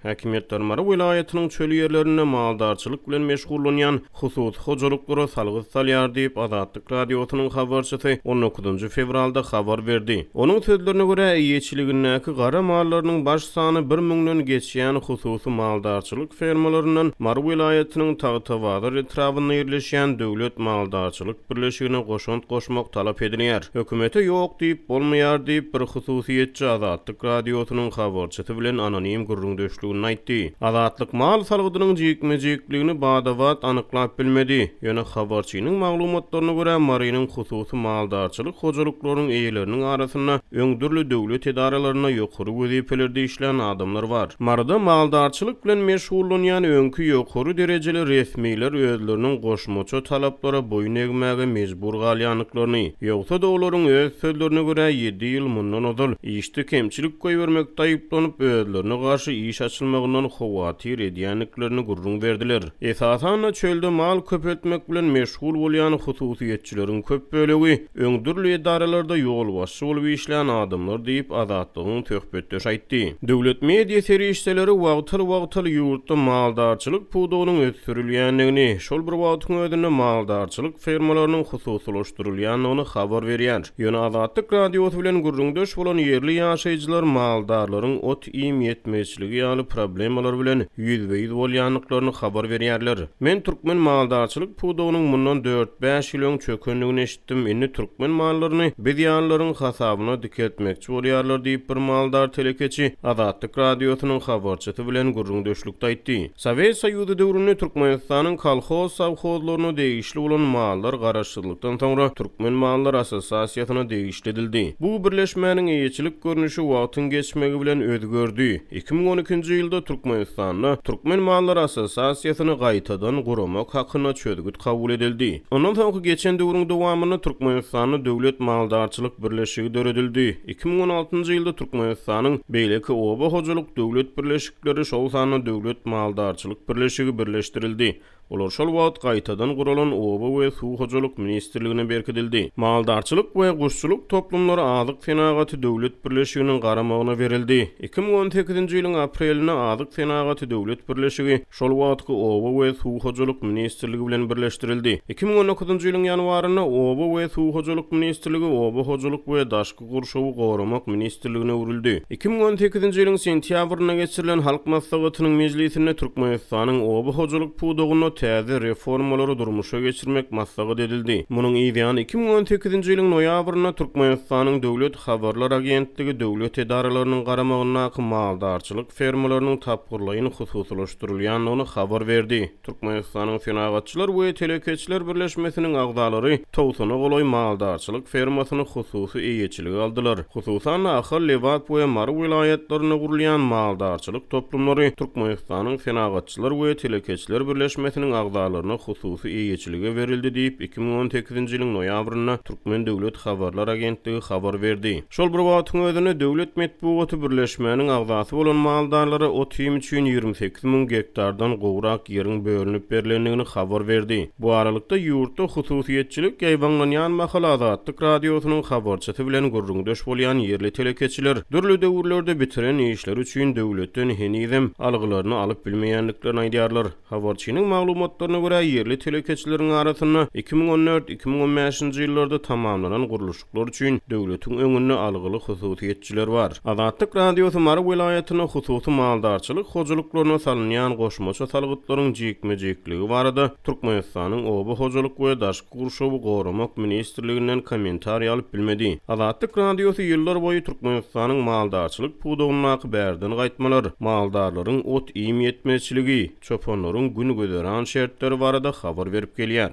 Häkimiýet Darmara welaýatynyň çöl ýerlerinde maldarçylyk bilen meşgullanýan hususy hojalyklara salgyt salýar diýip, Azatlyk Radiosynyň habarçysy on dokuzynjy fewralda habar berdi. Onuň sözlerine görä, eýeçiligindäki gara mallarynyň baş sany bir müňden geçýän hususy maldarçylyk fermalaryndan Mary welaýatynyň Tagtabazar etrabynda ýerleşýän Döwlet maldarçylyk birleşigine goşant goşmak talap edilýär. Hökümete ýok diýip bolmaýar diýip, bir hususyýetçi Azatlyk Radiosynyň habarçysy bilen anonim gürrüňdeşliginde aýtdy. Azatlyk mal salgydynyň jikme-jikligini bada-bat anyklap bilmedi. Ýöne habarçynyň maglumatlaryna görä, Marynyň hususy maldarçylyk hojalyklarynyň eýeleriniň arasynda öň dürli döwlet edaralarynda ýokary wezipelerde işlän adamlar bar. Maryda maldarçylyk bilen meşgullanýan öňki ýokary derejeli resmiler özleriniň goşmaça talaplara boýun egmäge mejbur galýandyklaryny, ýogsa-da olaryň öz sözlerine görä, ýedi ýyl mundan ozal işde kemçilik goýbermekde aýyplanyp, özlerine garşy iş açylmagyndan howatyr edýändiklerini gürrüň berdiler. Esasan-da, çölde mal köpeltmek bilen meşgul bolýan hususyýetçileriň köp bölegi, Öň dürli edaralarda ýolbaşçy bolup işlän adamlar diýip, Azatlygyň söhbetdeşi aýtdy. Döwlet media serişdeleri wagtal-wagtal ýurtda maldarçylyk pudagynyň ösdürilýändigini, şol bir wagtyň özünde maldarçylyk fermalarynyň hususylaşdyrylýandygyny habar berýär. Ýöne Azatlyk Radiosy bilen gürrüňdeş bolan ýerli ýaşaýjylar maldarlaryň ot iým ýetmezçiligi ýaly problemalar bilen ýüzbe-ýüz bolýandyklaryny habar berýärler. Men türkmen maldarçylyk pudagynyň mundan dört-bäş ýyl öň çökendigini eşitdim, indi türkmen mallaryny biz ýalylaryň hasabyna dikeltmekçi bolýarlar diýip bir maldar telekeçi Azatlyk Radiosynyň habarçysy bilen gürrüňdeşlikde aýtdy. Sowet Soýuzy döwründe Türkmenistanyň kolhoz sowhozlaryna degişli bolan mallar garaşsyzlykdan soňra Türkmen mallar assosiasiýasyna degişli edildi. Bu birleşmäniň eýeçilik görnüşi wagtyň geçmegi bilen özgerdi. Iki müň on ikinji ýylda Türkmenistanda Türkmen mallar assosiasiýasyny gaýtadan guramak hakynda çözgüt kabul edildi. Ondan soňky geçen döwrüň dowamynda Türkmenistanda Döwlet maldarçylyk birleşigi döredildi. Iki müň on altynjy ýylda Türkmenistanyň Beýleki oba hojalyk döwlet birleşikleri, Leri şol sanda döwlet maldarçylyk birleşigi birleşdirildi. Olar şol wagt gaýtadan guralan Oba we suw hojalyk ministrligine berkidildi. Maldarçylyk we guşçulyk toplumlary Azyk senagaty döwlet birleşiginiň garamagyna berildi. Iki müň on sekizinji ýylyň aprelinde Azyk senagaty döwlet birleşigi şol wagtky Oba we suw hojalyk ministrligi bilen birleşdirildi. Iki müň on dokuzynjy ýylyň ýanwarynda Oba we suw hojalyk ministrligi Oba hojalyk we daşky gurşawy goramak ministrligine öwrüldi. Iki müň on sekizinji ýylyň sentýabrynda geçirilen Halk Maslahatynyň mejlisinde Türkmenistanyň oba hojalyk pudagynda täze reformalary durmuşa geçirmek maslahat edildi. Munuň yzýany iki müň on sekizinji ýylyň noýabrynda Türkmenistanyň Döwlet habarlar agentligi döwlet edaralarynyň garamagyndaky maldarçylyk fermalarynyň tapgyrlaýyn hususylaşdyrylýandygyny habar berdi. Türkmenistanyň Senagatçylar we telekeçiler birleşmesiniň agzalary togsana golaý maldarçylyk fermasyny hususy eýeçilige aldylar. Hususan-da, Ahal, Lebap we Mary welaýatlarynda gurulýan maldarçylyk toplumlary Türkmenistanyň Senagatçylar we telekeçiler birleşmesiniň agzalaryna hususy eýeçilige berildi diýip, iki müň on sekizinji ýylyň noýabrynda Türkmen döwlet habarlar agentligi habar berdi. Şol bir wagtyň özünde döwlet metbugaty birleşmäniň agzasy bolan maldarlara ot-iým üçin ýigrimi sekiz müň gektardan gowrak ýeriň bölünip berlendigini habar berdi. Bu aralykda, ýurtda hususyýetçilik ýaýbaňlanýan mahaly Azatlyk Radiosynyň habarçysy bilen gürrüňdeş bolýan ýerli telekeçiler dürli döwürlerde bitiren işleri üçin döwletden henizem algylaryny alyp bilmeýändiklerini aýdýarlar. Habarçynyň maglumatlaryna görä, ýerli telekeçileriň arasynda iki müň on dört-iki müň on bäşinji ýyllarda tamamlanan gurluşyk Bular üçin döwletiň öňünde algyly hususyýetçiler bar. Azatlyk Radiosy Mary welaýatynda hususy maldarçylyk hojalyklaryna salynýan goşmaça salgytlaryň jikme-jikligi barada Türkmenistanyň Oba hojalyk we daşky gurşawy goramak ministrliginden kommentariý alyp bilmedi. Azatlyk Radiosy ýyllar boýy Türkmenistanyň maldarçylyk pudagyndaky bärden gaýtmalar, maldarlaryň ot-iým ýetmezçiligi, çopanlaryň gün-güzeran şertleri barada habar berip gelýär.